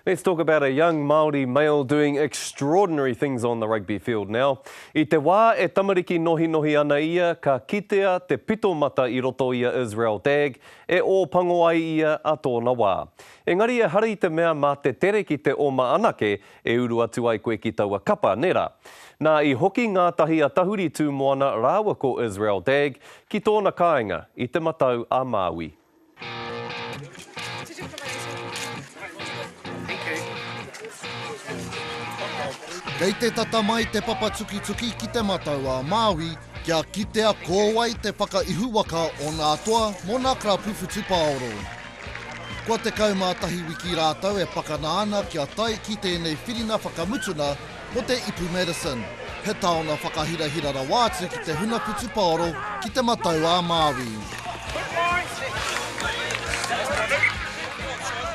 Let's talk about a young Māori male doing extraordinary things on the rugby field now. I te wā e tamariki nohinohi ana ia, ka kitea te pito mata i roto i a Israel Dagg, e ō pango ai ia a tōna wā. Engari ehara i te mea mā te tere ki te oma anake e uru atu ai koe ki taua kapa, nē rā. Nā, i hoki ngātahi a Tahuri Tūmoana rāua ko Israel Dagg ki tōna kāinga i Te Matau-a-Māui. Kei te tata mai te papa tukituki ki Te Matau-a-Māui kia kitea ko wai te whakaihuwaka o nā toa mō nā karapu whutupaoro. Kua 11 wiki rātou e pakana ana kia tae ki tēnei whiringa whakamutuna Ko te ipu Madison, he taonga whakahirahira rawa atu ki te huna putupaoro ki Te Matau-a-Māui.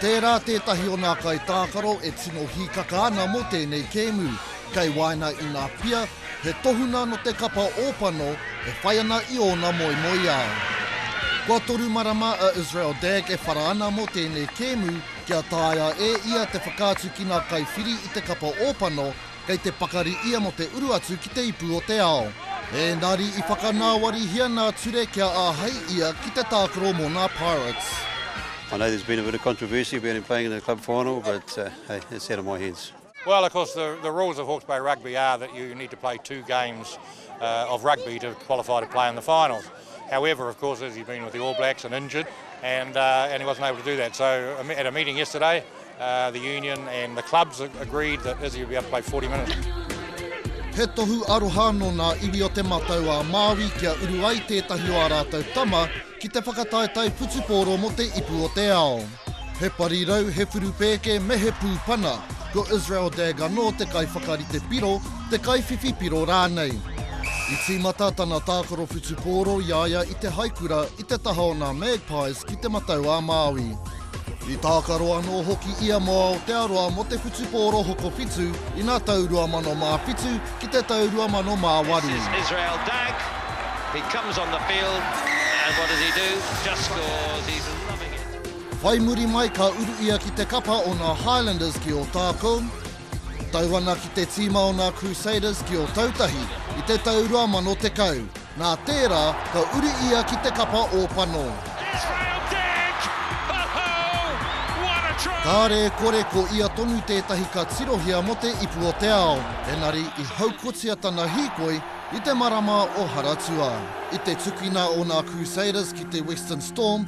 Tērā tētahi o nā kaitākaro e tino hīkaka ana mō tēnei kēmu. Kei waena i ngā pia, he tohunga nō te kapa ōpano e whai ana i ōna moemoeā. Kua toru marama a Israel Dagg e whara ana mō tēnei kēmu, Kia taea e ia te whakaatu ki ngā kaiwhiri i te kapa ōpano, kei te pakari ia mō te uru atu ki te ipu o te ao. Ēngari i whakanāwarihia nā Ture kia āhei ia ki te tākaro mō ngā Pirates. I know there's been a bit of controversy about him playing in the club final but hey, it's out of my hands. Well of course the the rules of Hawke's Bay Rugby are that you need to play two games uh, of rugby to qualify to play in the finals. However, of course, as he's been with the All Blacks and injured, and uh, and he wasn't able to do that. So um, at a meeting yesterday, uh, the union and the clubs agreed that Izzy would be able to play 40 minutes. He tohu aroha no nā iwi o te matau a Māui kia uru ai tētahi o ā rātou tama ki te whakataetae putupōro mo te ipu o te ao. He parirau, he whurupēke, me he pūpana, ko Israel Dagg anō te kaiwhakarite piro, te kaiwhiwhi piro rānei. I tīmata tana tākaro whutupōro i a ia i te haikura i te taha o nā Magpies ki Te Matau-a-Māui. I tākaro anō hoki ia mō Aotearoa mō te whutupōro hokowhitu i ngā tau 2007 ki te tau 2008. Whai muri mai ka uru ia ki te kapa o ngā Highlanders ki Ōtākou, tau ana ki te tīma o ngā Crusaders ki Ōtautahi i te tau 2010. Nā tērā, ka uru ia ki te kapa o Panō. Kāre e kore ko ia tonu tētahi ka tirohia mō te ipu o te ao, engari i haukotia tana hīkoi i te marama o Haratua. I te tukina o ngā Crusaders ki te Western Storm,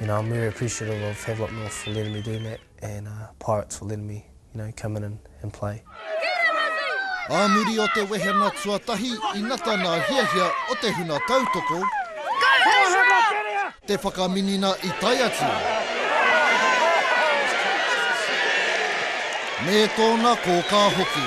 You know, I'm very appreciative of Havelock North for letting me do that and uh, Pirates for letting me, you know, come in and, and play. Ā muri o te wehena tuatahi i nata nā hiahia o te huna tautoko, te whakaminina i tae atu. Me tōna kōkā hoki.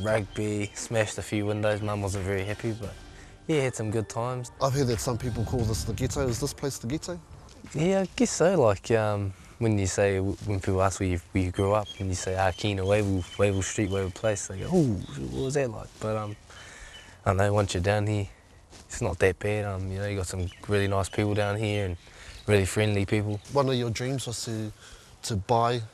Rugby, smashed a few windows, mum wasn't very happy but yeah had some good times. I've heard that some people call this the ghetto, is this place the ghetto? Yeah I guess so like um when you say when people ask where you grew up and you say ah Keena Wavell, Wavell street, Wavell place they go ooh what was that like but um I don't know once you're down here it's not that bad um you know you got some really nice people down here and really friendly people. One of your dreams was to to buy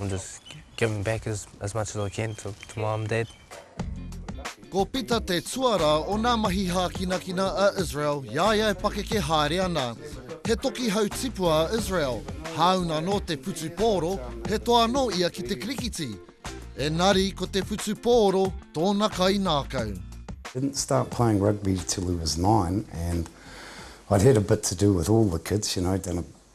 I'm just giving back as as much as I can to to mum and dad. Ko Pita te tuarā o nā mahi hākinakina a Israel i a ia e pakeke haere ana. He toki hau tipua a Israel, hāunga nō te whutupōro, he toa anō ia ki te kirikiti. Engari ko te whutupōro tōna kaingākau. Didn't start playing rugby till he was nine and I'd had a bit to do with all the kids, you know, done a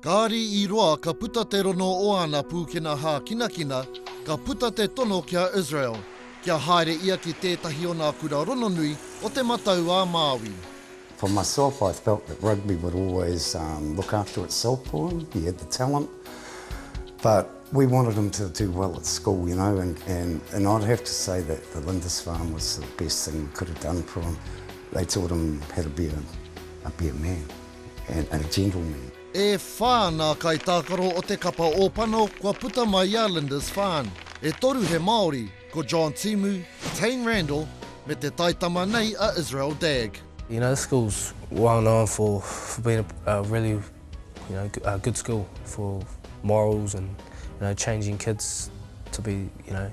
Kāri i roa ka puta te rono o āna pūkena hākinakina, ka puta te tono ki a Israel, kia haere ia ki tētahi o nā kura rononui o Te Matau-ā-Māui. For myself I felt that rugby would always look after itself for him, he had the talent but we wanted him to do well at school you know and and I'd have to say that the Lindisfarne was the best thing we could have done for him, they taught him how to be a be a man. and a gentleman. E whā ngā kaitākaro o te kapa Ōpano kua puta mai i a Lindis Farn. E toru he Māori, ko John Timu, Tane Randall, me te taitama nei a Israel Dagg. You know, this school's well known for for being a really, you know, a good school for morals and, you know, changing kids to be, you know,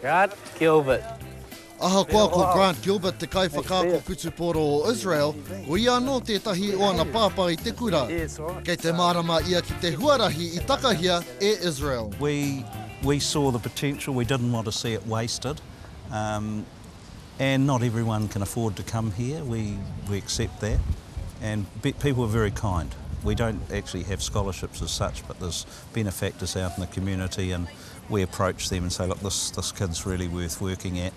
Grant Gilbert. Ahakoa ko Grant Gilbert te kaiwhakaako putupōro o Israel, ko ia anō tētahi o ana pāpā i te kura. Kei te mārama ia ki te huarahi i takahia e Israel. We, we saw the potential, we didn't want to see it wasted. Um, and not everyone can afford to come here, we, we accept that. And people are very kind. We don't actually have scholarships as such, but there's benefactors out in the community and we approach them and say look this this kid's really worth working at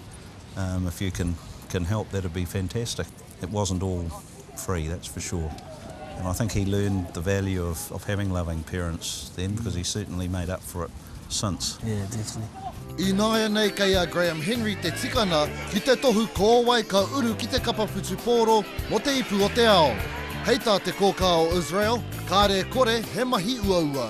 um if you can can help that would be fantastic. It wasn't all free that's for sure and I think he learned the value of of having loving parents then because he certainly made up for it since. Yeah definitely. Ināianei kei a Graham Henry te tikanga ki te tohu ko wai ka uru ki te kapa whutupōro mō te ipu o te ao. Hei tā te kōkā o Israel, kāre e kore he mahi uaua.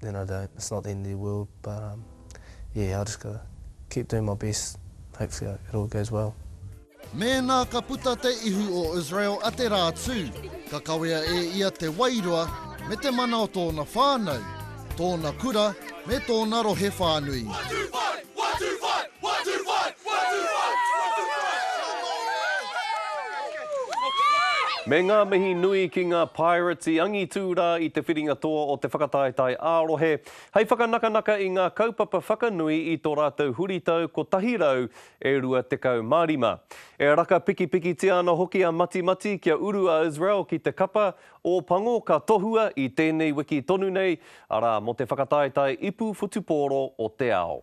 then I don't, it's not the end of the world, but um, yeah, I just gotta keep doing my best, hopefully it all goes well. Mēnā ka puta te ihu o Israel a te rā tū, ka kawea e ia te wairua me te mana o tōna whānau, tōna kura me tōna rohe whānui. Me ngā mihi nui ki ngā Pirates i angitū rā i te whiringa toa o te whakataetae ā-rohe hei whakanakanaka i ngā kaupapa whakanui i tō rātou huritau 100 e 25. E raka pikipikitia ana hoki a Matimati kia uru a Israel ki te kapa o Pango ka tohua i tēnei wiki tonu nei, arā, mō te whakataetae ipu whutupōro o te ao.